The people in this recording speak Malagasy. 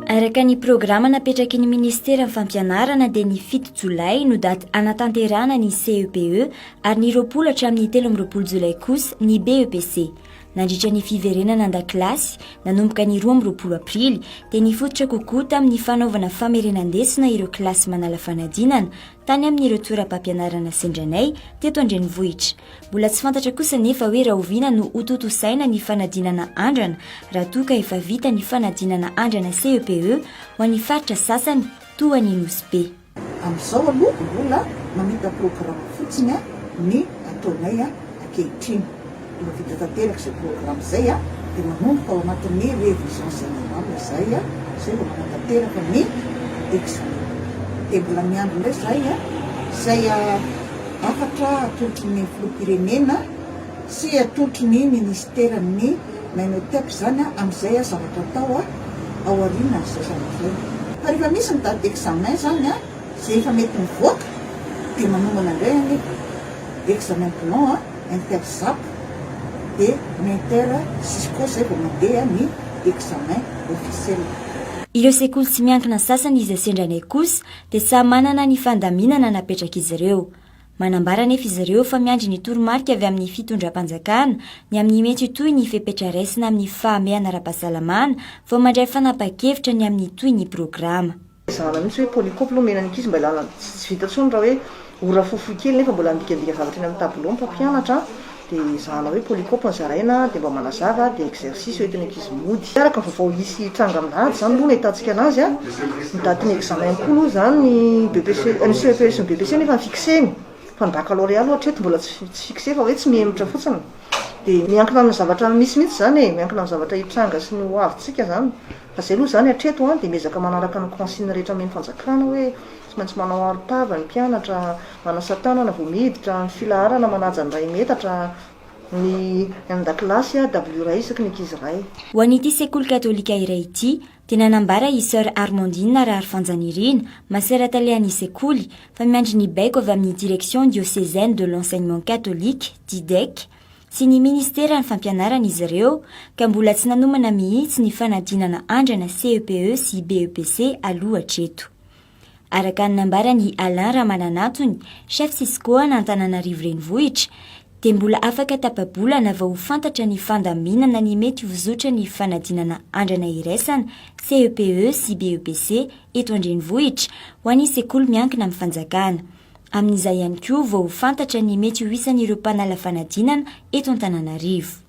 Araka ny programa napetraky ny ministeran'ny fampianarana dia ny fito jolay no daty anatanterahana ny CEPE e ary ny roapolo hatramin'ny telo amin'ny roapolo jolay kosa ny BEPC. Nandritra ny fiverenana an-dakilasy nanomboka ny roa amin'ny roapolo aprily dia nifototra kokoa tamin'ny fanaovana famerenan-desona ireo kilasy manala fanadinana tany amin'ireo toeram-pampianarana sendra anay teto an-drenivohitra. Mbola tsy fantatra kosa anefa hoe rahoviana no hotontosaina ny fanadinana andrana raha toa ka efa vita ny fanadinana andrana CEPE e, ho an'ny faritra sasany toa an'i Nosy Be. Amin'izao aloha mbola mamita-programme fotsiny ny ataonay ankehitriny. Efa vita tanteraka izay programme izay a, dia manomboka ao anatin'ny révision générale izahay a, izay vao manatanteraka ny examen. Dia mbola miandry indray izahay a, izay hafatra atolotry ny filoham-pirenena sy atolotry ny minisiteran'ny Minotep izany a, amin'izay a zavatra atao a, ao aorianan'izay zavatra izay. Fa rehefa misy ny date d'examen izany a, izay efa mety mivoaka, dia manomana indray ny examen blanc a. interzap dia ny inter cisco izay vao mandeha ny examen officiel. Ireo sekoly tsy miankina sasany izay sendra anay kosa dia samy manana ny fandaminana napetrak'izy ireo. Manambara anefa izy ireo fa miandry ny toromarika avy amin'ny fitondram-panjakana ny amin'ny mety ho toy ny fepetra raisina amin'ny fahamehana ara-pahasalamana vao mandray fanapahan-kevitra ny amin'ny toy ny programa. Zahana mihitsy hoe polycope aloha omena ny ankizy mba ilana tsy vita intsony raha hoe ora fohifohy kely nefa mbola midikadika zavatra eny amin'ny tableau ny mpampianatra dia zahana hoe polycope no zaraina dia mba manazava dia exercice hoentin'ny ankizy mody araka ny vaovao hisy hitranga amin'ny alahady izany aloha no ahitantsika anazy an, ny datin'ny examen koa aloha izany ny BEPC, ny CEPS sy ny BEPC nefa fixena fa ny baccalauréat aloha hatreto mbola tsy fixe fa hoe tsy mihemotra fotsiny dia miankina amin'ny zavatra misy mihitsy izany e, miankina amin'ny zavatra hitranga sy ny ho avintsika izany. Fa zay aloha zany hatreto an dia miezaka manaraka ny consigne rehetra omen'ny fanjakana hoe tsy maintsy manao arotava ny mpianatra, manasa tanana vao miditra, ny filaharana manaja ny iray metatra, ny an-dakilasy a dabilio iray isaky ny ankizy iray. Ho an'ity sekoly katolika iray ity dia nanambara i Soeur Armandine Raharifanjanirina, masera talehan'ny sekoly, fa miandry ny baiko avy amin'ny direction diocésaine de l'enseignement catholique, DIDEC, Tsy ny Ministeran'ny Fampianarana izy ireo ka mbola tsy nanomana mihitsy ny fanadinana andrana CEPE sy BEPC aloha hatreto. Araka ny nambaran'i Alain Ramananantony, Chef Cisco an'Antananarivo Renivohitra, dia mbola afaka tapa-bolana vao ho fantatra ny fandaminana ny mety ho zotran'ny fanadinana andrana iraisana CEPE sy BEPC eto an-drenivohitra ho an'ny sekoly miankina amin'ny fanjakana. Amin'izay ihany koa vao ho fantatra ny mety ho isan'ireo mpanala fanadinana eto Antananarivo.